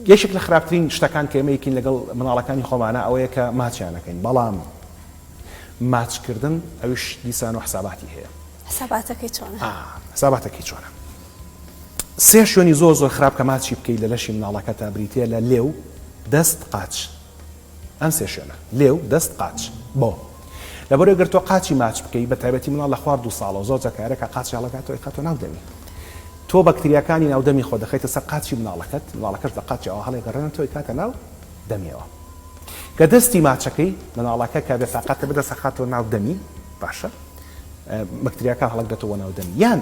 یەکێک لە خراپترین شتەکان کە ئێمە ئەیکەین لەگەڵ منداڵەکانی خۆمانە ئەوەیە کە ماچیان ئەکەین بەڵام ماچکردن ئەویش دیسان و حساباتی هەیە حساباتەکەی چۆنە ئا حساباتەکەی چۆنە سێ شوێنی زۆر زۆر خراپ کە ماچی بکەیت لە لەشی منداڵەکەتا بریتییە لە لێو دەست قاچ ئەم سێ شوێنە. لێو، دەست، قاچ. بۆ؟ لەبەرەوەی گەر تۆ قاچی ماچ بکەی، بە تایبەتی منداڵ لە خوار دوو ساڵەوە، زۆر جار تەیارە کە قاچی هەڵەکاتەوە ئەیخاتە ناو دەمی. تۆ بەکتریاکانی ناو دەمی خۆت دەخەیتە سەر قاچی منداڵەکەت، منداڵەکەش بە قاچی ئەوە هەڵیگەڕێنێتەوە ئەیکاتە ناو دەمیەوە. کە دەستی ماچەکەی، منداڵەکە کە بێتاقەتە بدەست ئەخاتەوە ناو دەمی، باشە؟ بەکتریاکان هەڵەکدەتەوە ناو دەمی. یان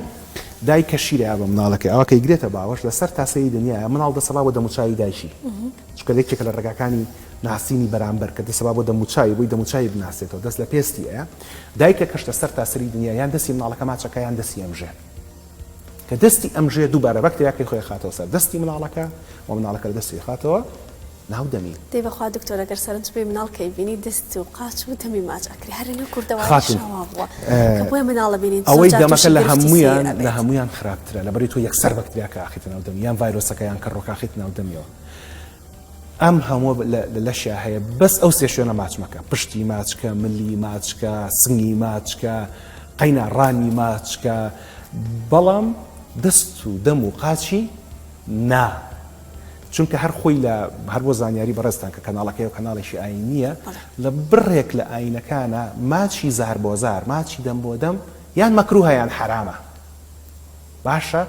دایک کە شیرەیا بە منداڵەکەی ئاوا کە ئەیگرێتە باوەش، لە سەر تاسەی دنیایە، منداڵ دەسەبا بۆ دەموچاوی دایکی. چونکە یەکێکە لە ڕێگاکانی ناسینی بەرامبەر، کە دەسەبا بۆ دەموچاوی، بۆی دەموچاوی بناسێتەوە، دەست لە پێستی ئەیا، دایکە کەشتە سەرتاسەری دنیا، یان دەستی مناڵەکە ماچەکە، یان دەستی ئەمژێ، کە دەستی ئەمژێ دووبارە بەکتریاکەی خۆی ئەخاتەوە سەر دەستی مناڵەکە و مناڵەکە لە دەستی ئەخاتەوە ناو دەمی. دەی بەخوا دکتۆر ئەگەر سەرنج بی مناڵ کەی بینی دەست و قاچ و دەمی ماچ ئەکری هەر لەنێو کوردەواریش وا بووە کە بۆیە مناڵە بینین زۆر جار توشی گرفتی سێ ئەبێت ئەوەی دەمەکە لە هەموویان لە هەموویان خراپترە لەبەری تۆ یەکسەر بەکتریاکە ئەخیتە ناو دەمی یان ڤایرۆسەکە یان کەڕۆکە ئەخیتە ناو دەمیەوە ئەم هەموو لەشیا هەیە بەس ئەو سێ شوێنە ماچ مەکە پشتی ماچکە ملی ماچکە سنگی ماچکە قەینا ڕانی ماچکە بەڵام دەست و دەم و قاچی نا چونکە هەر خۆی لە هەر بۆ زانیاری بەڕێستان کە کەناڵەکەی و کەناڵێکی ئاین نییە لە بڕێک لە ئاینەکانە ماچی زار بۆ زار ماچی دەم بۆ دەم یان مەکروهیان حرامە باشە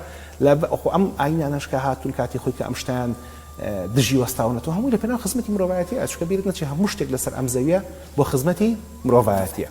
لە خۆ ئەم ئاینانەش کە هاتوون کاتی خۆی کە ئەم شتەیان دژی وەستاونەتەوە هەمووی لە پێناو خزمەتی مرۆڤایەتیە ئەچکە بیرت نەچێ هەموو شتێک لەسەر ئەم زەویە بۆ خزمەتی مرۆڤایەتیە.